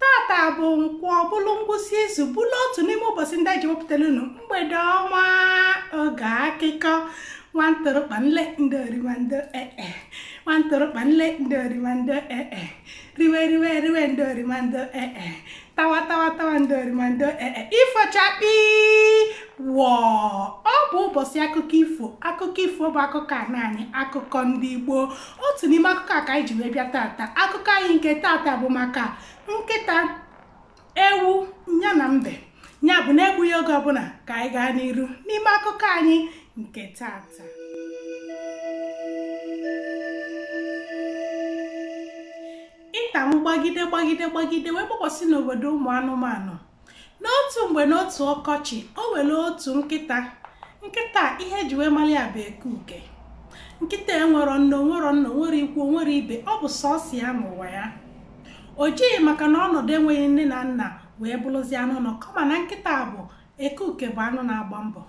tata bụ nkwọ bụlụ ngwụsị izu bụlụ otu n'ime ụbọsị ndị e ji ewepụtara unu mgbede ọma oge akụkọ nwantụrụkpa nle ndị orimando ee eh, eh. nwantụrụkpa nle ndị orimando ee eh, riwe riwe riwe ndị orimando ee tawa tawa tawa ndị orimando ee ifo chakpii wọọ ọ bụ ụbọsị akụkọ ifo akụkọ ifo bụ akụkọ ana anyị akụkọ ndị igbo otu n'ime akụkọ a ka anyị ji wee bịa tata akụkọ anyị nke tata bụ maka nkịta ewu nya na mbe ya bụ na egbughị oge ọbụna ka anyị gaa n'iru n'ime akụkọ anyị nke tata ita m gbagide gbagide gbagide wee gbakọsị n'obodo ụmụ anụmanụ n'otu mgbe n'otu ọkọchị o nwere otu nkịta nkịta ihe e ji wee mara ya bụ eke uke nkịta enwero nne o nwero nna o nwero ikwu o nwero ibe ọ bụ sọsọ ya n'ụwa ya o jighị maka na ọnọdụ enweghị nne na nna wee bụrụzie anụ ụnọ kama na nkịta bụ eke uke bụ anụ na-agba mbọ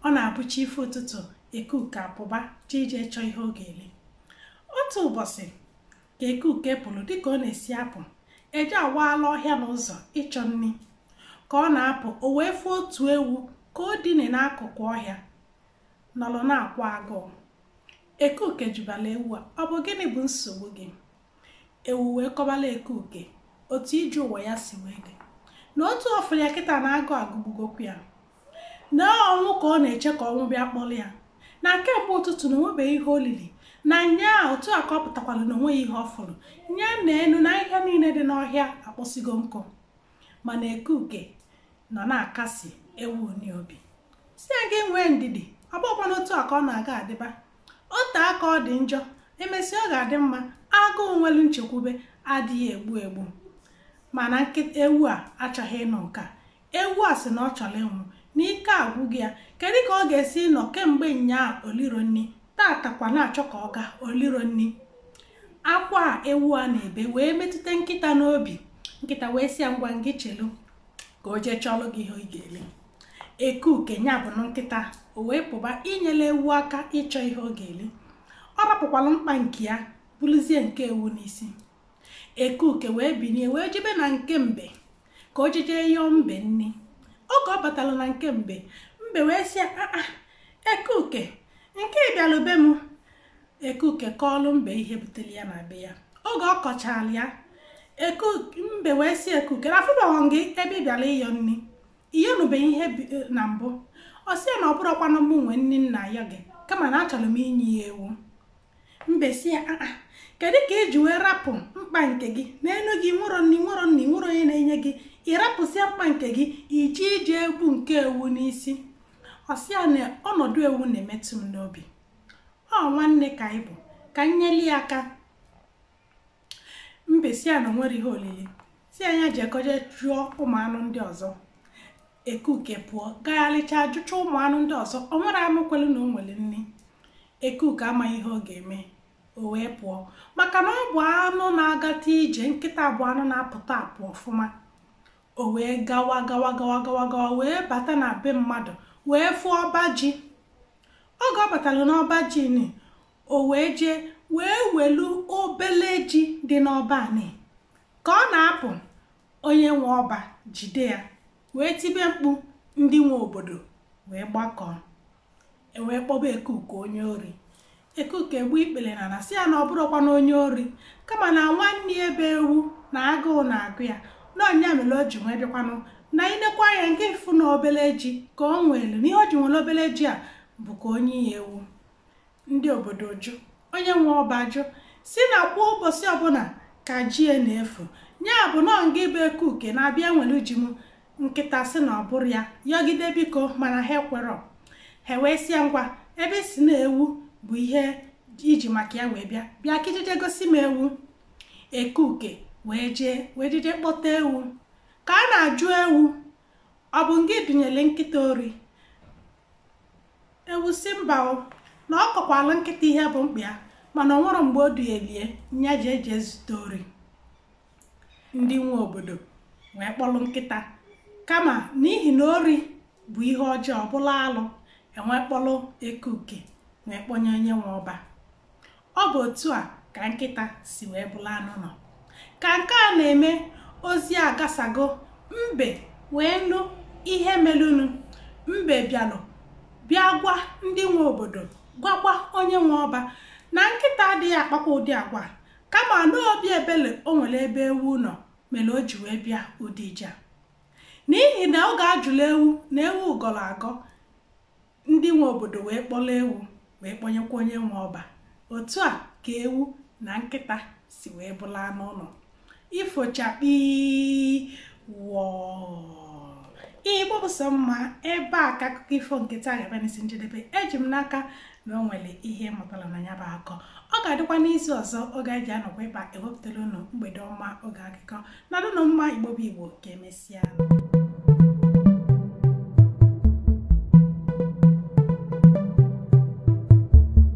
ọ na-abụ chi efo ụtụtụ eke uke apụba jee ije chọọ ihe ọ ga-eli otu ụbọsị ka eke uke pụrụ dịka ọ na-esi apụ eje awaala ọhịa na ụzọ ịchọ nni ka ọ na-apụ o wee fụ otu ewu ka o dine n'akụkụ ọhịa nọrọ na-akwa agụụ eke uke jụbara ewu a ọ bụ gịnị bụ nsogbu gị ewu wee kọbara eke uke otu ije ụwa ya si wee dị na otu ọ fụrụ ya kịta na agụụ agụgbugokwa ya na ọnwụ ka ọ na-eche ka ọnwụ bịa kpọrọ ya na kemgbe ụtụtụ na o nwebeghị ihe o lili na nyaa otu a ka ọ pụtakwara na o nweghị ihe ọ fụrụ nya na enu na ahịhịa niile dị n'ọhịa akpọsigo nkụ mana ekuke nọ na-akasi ewu nụ obi sị ya gị nwee ndidi ọ bụkwanụ otu a ka ọ na-aga adịba otu aka ọ dị njọ emesịa ọ ga-adị mma agụụ nwelu nchekwube adịghị egbu egbu mana ewu a achọghị ịnụ nke a ewu a sị na ọ chọrọ ịnwụ na ike agwụgo ya kedu ka ọ ga-esi nọ kemgbe nyaa o liro nni tata kwa na-achọ ka ọ gaa o liro nni akwa ewu a na-ebe wee metụta nkịta n'obi nkịta wee sị ya ngwa ngị chelu ka o jee chọlụ gị ihe ị ga-eli eke uke nya bụ nkịta o wee pụba inyela ewu aka ịchọ ihe ọ ga-eli ọ rapụkwalụ mkpa nke ya buluzie nke ewu n'isi Ekuke wee binie wee jebe na nke mbe ka o jeje yọọ mbe nni. Oge ọ batara na nke mbe, mbe wee sị ya, aa Ekuke, nke ị bịara be m. Ekuke kọọlụ mbe ihe butere ya na be ya. Oge ọ kọchara ya, mbe wee sị Ekuke, afụbaghọ m gị ebe ị bịara ịyọ nni. Ị yọnubeghị ihe na mbụ. Ọ sị ya na ọ bụrọkwanụ mụ nwe nni m na-ayọ gị, kama na achọrọ m inye ya ewu. mbe si ya aa kedu ka i ji wee rapụ mkpa nke gị na-enu gị i nwerọ nne i nwerọ nna i nwerọ onye na-enye gị ị rapụsịa mkpa nke gị i jije ebu nke ewu n'isi ọ sị ya na ọnọdụ ewu na-emetụ m n'obi ọ nwanne ka anyị bụ ka m nyeli ya aka mbe si ya na o nwerọ ihe olili si ya ya jekọ jee jụọ ụmụ anụ ndị ọzọ ekuke pụọ gagharịchaa jụchaa ụmụ anụ ndị ọzọ o nwerọ anụ kwelu na o nwere nri ekuke amaghị ihe ọ ga-eme o wee pụọ maka na ọ bụ anụ na-agata ije nkịta bụ anụ na-apụta apụ ọfụma o wee gawa gawa gawa gawa gawa wee bata na be mmadụ wee fụ ọba ji oge ọ batara n'ọba ji ni o wee jee wee welu obele ji dị n'ọba ni ka ọ na-apụ onye nwe ọba jide ya wee tibe mkpu ndị nwe obodo wee gbakọọ e wee kpọba ekuke onye ori ekuke gbuo ikpere n'ana si ya na ọ bụrọkwanụ onye ori kama na nwanne ya bụ ewu na agụụ na-agụ ya na ọ nya mere o ji wee bịakwanụ na i nekwaa anya nke ịfụ na obele ji ka o welu na ihe o ji welu obele ji a bụ ka o nye ya ewu ndị obodo jụ onye nwe ọba ajụ si na kwa ụbọchị ọbụla ka ji ya na-efu ya bụ na ọ ngị bụ ekuke na-abịa ewelu ji m nkịta si na ọ bụrọ ya yọgide biko mana ha ekwerọ ha wee si ya ngwa ebe ị si na ewu bụ ihe i ji maka ya wee bịa bịa ka i jije gosi m ewu ekuke wee jee wee jije kpọta ewu ka a na-ajụ ewu ọ bụ ngị dunyere nkịta ori ewu si mba o na ọ kọkwaalụ nkịta ihe bụ mkpa ya mana o nwerọ mgbe o dunyelu ya nya jije zute ori ndị nwe obodo wee kpọrọ nkịta kama n'ihi na ori bụ ihe ọjọọ bụrụ alụ e wee kpọrọ ekuke wee kpọnye onye nwe ọba ọ bụ otu a ka nkịta si wee bụrụ anụ ụnọ ka nke a na-eme ozi agasago mbe wee nụ ihe melunu mbe bịalụ bịa gwa ndị nwe obodo gwakwa onye nwe ọba na nkịta adịghị akpakwa ụdị agwa a kama na obi ebele o nwere ebe ewu nọ mere o ji wee bịa ụdị ije n'ihi na oge a jụlụ ewu na ewu gọrọ agọ Ndị nwe obodo wee kpọrọ ewu wee kpọnyekwa onye nwe ọba. Otu a ka ewu na nkịta si wee bụrụ anụ ụnọ. Ifo chakpii wọọ Igbo bụ sọ mma ebe a ka akụkọ ifo nke taa ga-abịa n'isi njedebe eji m n'aka na o nwere ihe ị mụtara na ya bụ akọ ọ ga-adịkwa n'izu ọzọ oge anyị ji anọkwa ebe a ewepụtara unu mgbede ọma oge akụkọ Nọdụnụ mma Igbo bụ Igbo ka e mesịanụ.